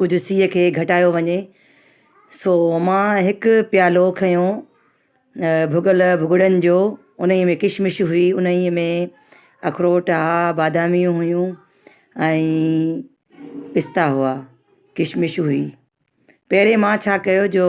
ڪجهه سيء کي گهٽايو وڃي. سو مان هڪ پيالو کنيو ڀڳل ڀڳڙن جو، انهيء ۾ ڪشمش هئي، انهيء ۾ اخروٽ ها، باداميون هيون ۽ پستا هئا، ڪشمش هئي. پهرين مان ڇا ڪيو جو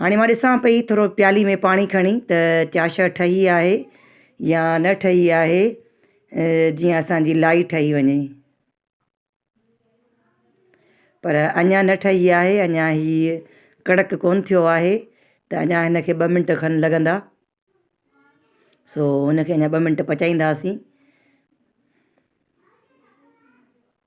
هاڻي مان ڏسان پئي ٿورو پيالي ۾ پاڻي کڻي ته چاشا ٺهي آهي يا نه ٺهي آهي جيئن اسانجي لائي ٺهي وڃي پر اڃان نه ٺهي آهي اڃان هي ڪڙڪ ڪون ٿيو آهي ته اڃان هنکي ٻه منٽ کن لڳندا سو هنکي اڃان ٻه منٽ پچائينداسين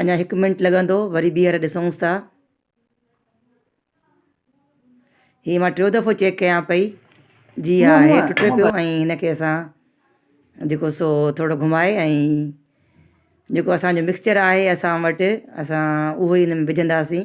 اڃا هڪ منٽ لڳندو وري ٻيهر ڏسونس ٿا هي ما ٽيون دفعو چيڪ ڪيان پئي جي ها هي ٽٽي پيو ۽ هن کي اسان جيڪو سو ٿورو گهمائي ۽ جيڪو اسانجو مڪسچر آهي اسان وٽ اسان اهو ئي هن ۾ وجهنداسين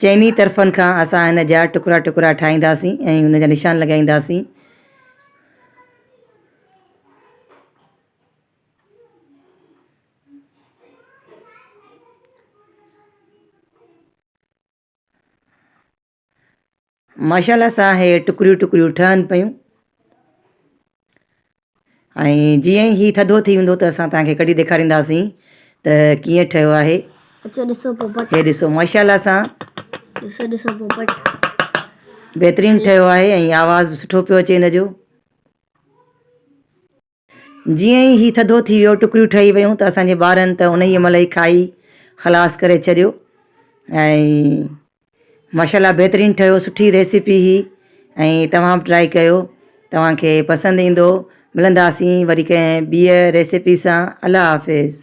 چئني طرفن کان اسان هن جا ٽڪرا ٽڪرا ٺاهينداسين ۽ ان جا نشان لڳائينداسين. ماشاءالله سان هي ٽڪريون ٽڪريون ٺهن پيون ۽ جيئن ئي هي ٿڌو ٿي ويندو ته اسان تهانکي ڪڍي ڏيکارينداسين ته ڪيئن ٺهيو آهي اچو ڏسو پوپٽ هي ڏسو ماشاءالله سان ڏسو ڏسو پوپٽ بهترين ٺهيو آهي ۽ آواز به سٺو پيو اچي هن جو جيئن ئي هي ٿڌو ٿي ويو، ٽڪريون ٺهي ويون ته اسان جي ٻارن ته انهيء مهل ئي کائي خلاص ڪري ڇڏيو ۽ ماشاءالله بهترين ٺهيو سٺي ريسيپي هي ۽ توهان به ٽرائي ڪيو توهان کي پسند ايندو ملنداسين وري ڪنهن ٻيء ريسيپي سان الله حافظ.